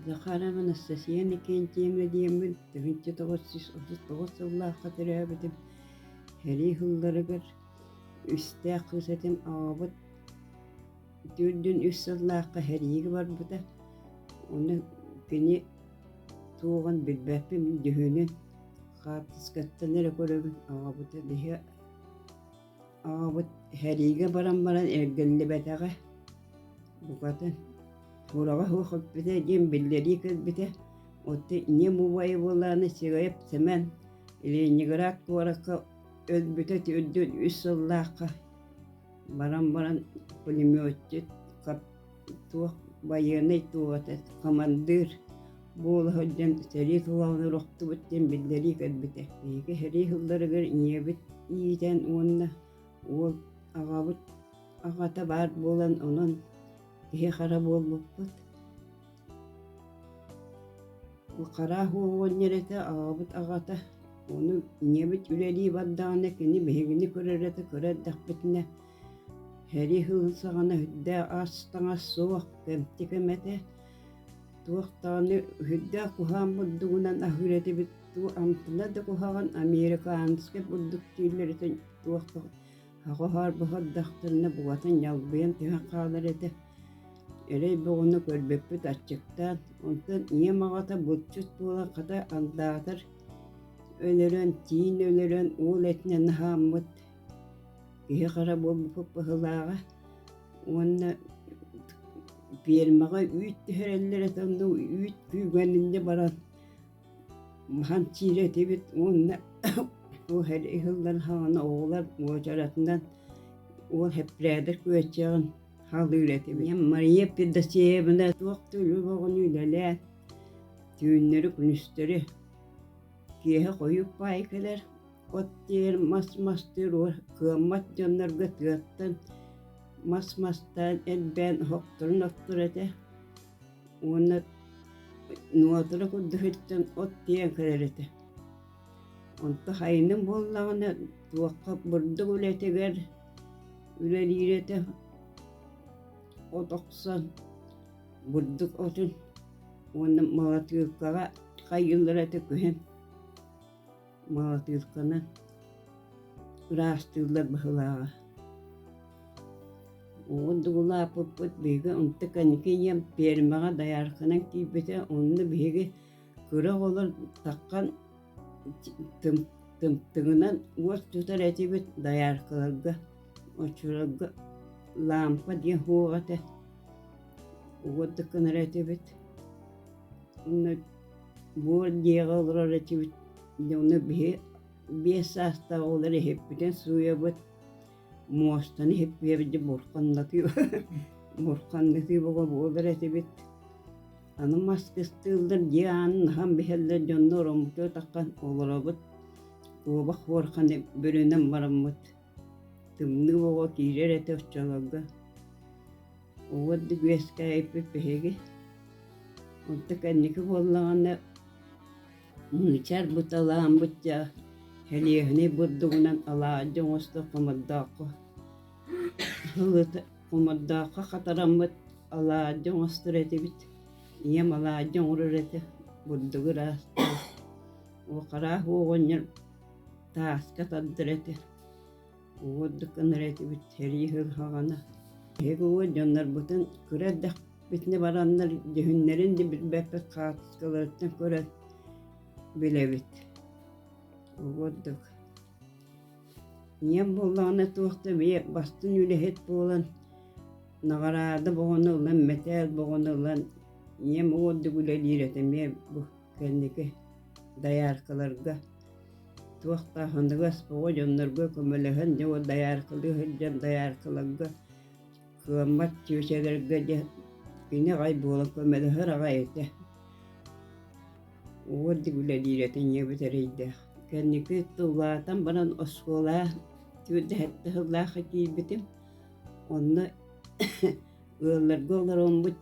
Захарова Анастасия Иннокентьева диэммин тыһыынча тоҕус сүүс отут тоҕус сыллаахха төрөөбүтүм сэрии сылларыгар үстээх кыыс этим аҕабыт төрт дьон үс сыллаахха сэриигэ барбыта ону кини туоҕун билбэппин дьүһүнүн хаартыскаттан эрэ көрөбүн аҕабыт иһэ Аҕабыт сэриигэ баран баран эргиллибэтэҕэ, букатын кураҕа суох эппитэ диэн биллэрии кэлбитэ. Оттон ийэм убайа буолаары Сирэйэп Сэмэн Ленинград куоракка өлбүтэ төрдүн үс сыллаахха баран баран пулеметчик туох байыаннай туоҕата хамандыыр буола сылдьан сэрии кылаҕынан охтубут диэн биллэрии кэлбитэ биһиги сэрии сылларыгар ийэбит иитэн уонна уол аҕабыт аҕата баар буолан онон киһи хара буолбуппут хараах уол уонньэрэтэ аҕабыт аҕата ону ийэбит үлэлии бардаҕына кини биһигини көрөрө да кыра эрдэхпитинэ Эри һыы саҕана үрдээх ас таҥас суох, кэмчи кэм этэ. Туох даҕаны үрдээх куһаҕан бурдугунан аһыыр этибит дуу, амтана да куһаҕан американскай бурдук дииллэриттэн туох да һаҕаһарбаһар дьахтарына букатын ньалбыйан түһэн хаалар этэ. Эрэй бөҕөнү көрбүппүт аччыктаан, онтон ийэм аҕата булчут буолан хата алдаатар, өлөрөн, тиин өлөрөн уол этинэн аһааммыт. киһи-хара буолбуппут быһылааҕа уонна пиэрмэҕэ үүт түһэрэллэр этэ онно үүт күүгэн инньэ баран маһан чиирэ этибит уонна ол хэл иһыллан хаана оҕолор уочаратынан уол хэппирээдэр күөччэҕин халыыр этибит мария федосеевна туох да үлү бөҕөнү үлэлээн түүннэри күнүстэри киэһэ хойук баай кэлэр От диэри мас-мастыыр кыаммат дьоннорго тыаттан мас мастаан элбээн охторун охтор этэ уонна нуотура курдук сылдьан от тиэйэн көрөр этэ онто хайыным буоллаҕына туохха бурдук үлэтигэр үлэлиир этэ от охсон бурдук отун уонна малатыылкаҕа хайыыллар этэ күһэн маҕатыырканы ыраастыыллар быһылааҕа уодугулааппыппыт биһиги онто каникием пиэрмэҕэ доярканан киирбитэ онно биһиги кыра оҕолор таххан тымтыгынан уот тутар этибит дояркаларга очурарга лампа диэн һуох этэ уот да кынар этибит Буор дьиэҕэ олорор этибит. Дьону биһи биэс саастаах оҕолор иһиппитин сууйабыт. Муостаны иһиппиэбит бурханнатыы бурханнатыы болор этибит. Аны мас кыстыыллар дьиэ аанын аһан биһэллэр дьонно ороммуту атаххан олоробут. Туоба хуорханы бүрүнэн бараммыт Тымныы оҕо киирэр этэ оччолорго. Уот үгэскээйиппит биһиги. Онто кэнники буоллаҕына мыычар бут алаамбыт дьа хэлиэһини бурдугунан алаадьы оҥосто хомордооххо хомордооххо хатараммыт алаадьы оҥостор этибит. Ийэм алаадьы оҥорор этэ бурдугу ыраастаан. Уох араас оҕонньор Тааска тандыр этэ. Уоддук ынар этибит, сэрии сылһаҕана. Эһиги уо дьоннорбутун кыра эрдэхпитинэ бараннар дьүһүннэрин да билбэппит хаартыскаларыттан көрөн билэбит. Уоддук ийэм буоллаҕына туох да бэйэ бастыҥ үлэһит буолан наҕараада боҕону ылан, мэтээл боҕону ылан ийэм уоддук үлэлиир этэ эмиэ бу кэнники дояркаларга туохтаах ондуга СПО дьоннорго көмөлөһөн дьэ дояркалыы сылдьан дояркаларга кыаммат чүөчэлэргэ дьэ кини аҕай буола көмөлөһөр аҕай этэ уордик үлэлиирэтин ийэбит эрэйдээх кэнники тыллаатан баран оскуола түүрдэһэттэ сыллаах киирбитим онно ыалларга олороммут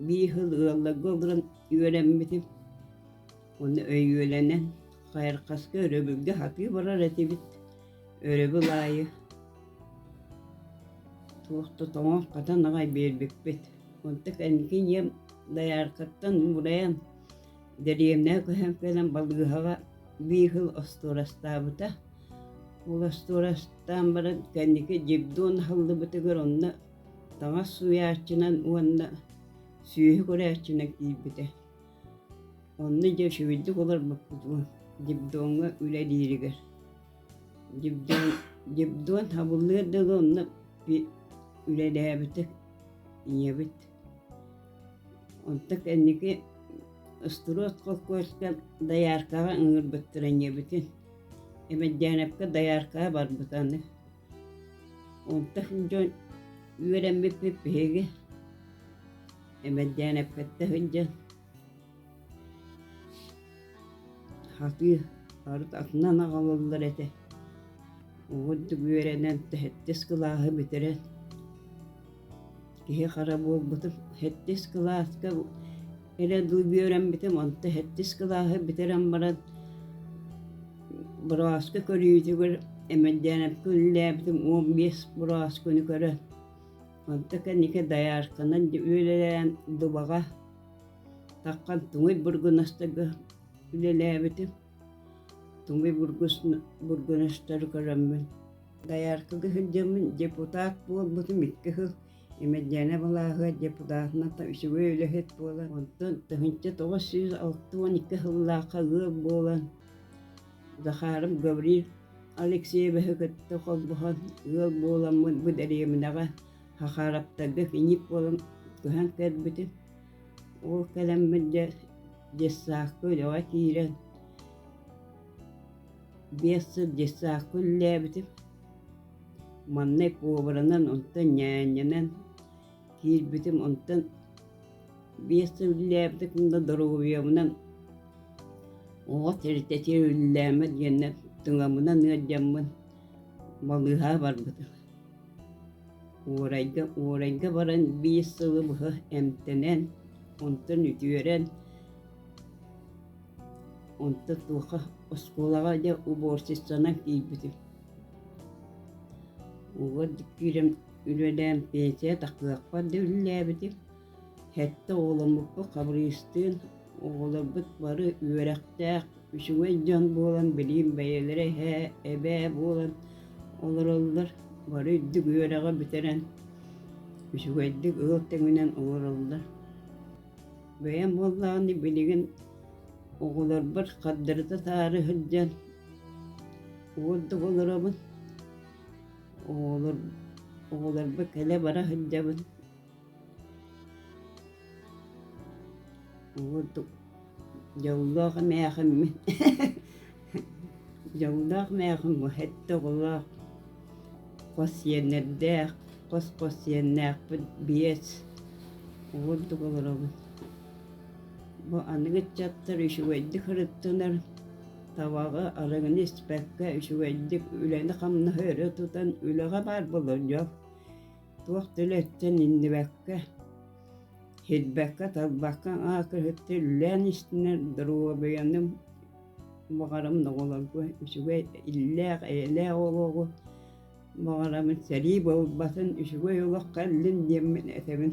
биир хыл ыалларга олорон үөрэммитим уонна өйүөлэнэн хайырхаска өрөбүлгэ хатыы барар этибит өрөбүл аайы туох да тоҥо хатан аҕай биэрбиппит онтон кэнники ийэм дояркаттан уурайан дэриэбинэ көһөн кэлэн балыыһаҕа биир хыл остуорастаабыта ол остуорастаан баран кэнники дьигдуон аһыллыбытыгар онно таҥас уйааччынан уонна сүөһү көрөөччүнэн киирбитэ. Онно дьэ үчүгэйдик олорбуппут уон Дебдоҥҥа үлэлииригэр. Дебдон, Дебдон хабыллыыр да онно үлэлээбитэ, ийэбит. Онтон кэнники Ыстуруот холкуоска дояркаҕа ыҥырбыттара ийэбитин. Эмэддээрэпкэ дояркаҕа барбыта аны. Онтон дьон үөрэммиппит биһиги эмэрдээн эппэттэ сылдьан сатыы арыт атынан аҕалаллар этэ оҕурдук үөрэнэн сэттис кылааһы бүтэрэн киһи-хара буолбутум сэттис кылааска Элэ дуу бүөрэмбитим, онто сэттис кылааһы бүтэрэн баран, бырааска көрүүтүгэр эмэрдээнэпкэ үлэлээбитим уон биэс быраасканы көрөн. Онто кэнники доярканан үөлэлээн дубаҕа таххан туҥуй бургунастарга үлэлээбитим. Туҥуй бургунастары көрөммүн. Дояркага сылдьаммын депутат буолбутум икки сыл Имэрдьээнэ балааһыгар депутатната үчүгэй үлэһит буолан, онтон тыһыынча тоҕус сүүс алта уон икки сыллаахха ыал буолан, Захаров Гаврил Алексеевиһы кытта холбоһон ыал буоламмын бу дэриэбинэҕэ Хахараптарга кинип буолан көһөн кэлбитим. Ол кэлэммин дьэ детсадка үлэҕэ киирэн биэс сыл детсадка үлэлээбитим. маннык уобаранан онтон ньээнньэнэн киирбитим онтон биэс сыл үллээбитэ да доруобуйабынан оҕо тиритэтиэ үллээмэ диэннэр тыҥамынан ыалдьаммын балыыһаа барбытым уорайга уорайга баран биир сылы быһа эмтэнэн онтон үтүөрэн онто туоха оскуолаҕа дьэ уборщицанан киирбитим Уол дьиктиирим үлэлээн пенсия таккыахпар да үлэлээбитим. Сэттэ оҕоломмуппут Хабырыыстыын. Оҕолорбут бары үөрэхтээх, үчүгэй дьон буолан, билигин бэйэлэрэ эһээ, эбээ буолан олороллор. Бары үрдүк үөрэҕи бүтэрэн, үчүгэйдик ыл тэҥинэн олороллор. бэйэм буоллаҕына билигин оҕолорбор хардырыта-таары сылдьан уурдук олоробун оҕолор оҕолорбор кэлэ-бара сылдьабын уурдук дьоллоох эмээхиммин Дьоллоох мээҕиҥ уһэттэ оҕолоох, хос сиэннэрдээх, хос-хос сиэннээхпин биэс уурдук олоробун. Бу аныгы ыччаттар үчүгэйдик ырыттынар, табаҕы, арыгыны испэккэ үчүгэйдик үлэни-хамнаһы өрө тутан үлэҕэ баар болордьох, туох да үлэттэн иҥнибэккэ, иһирбэккэ-талбакка аһа кырыттыы үлэлээн истинэр доруобуйаным баҕарам доҕолорго үчүгэй иллээх, эйэлээх олоҕу, баҕарамын сэрии буолбатын, үчүгэй олоххо иллин диэммин этэбин.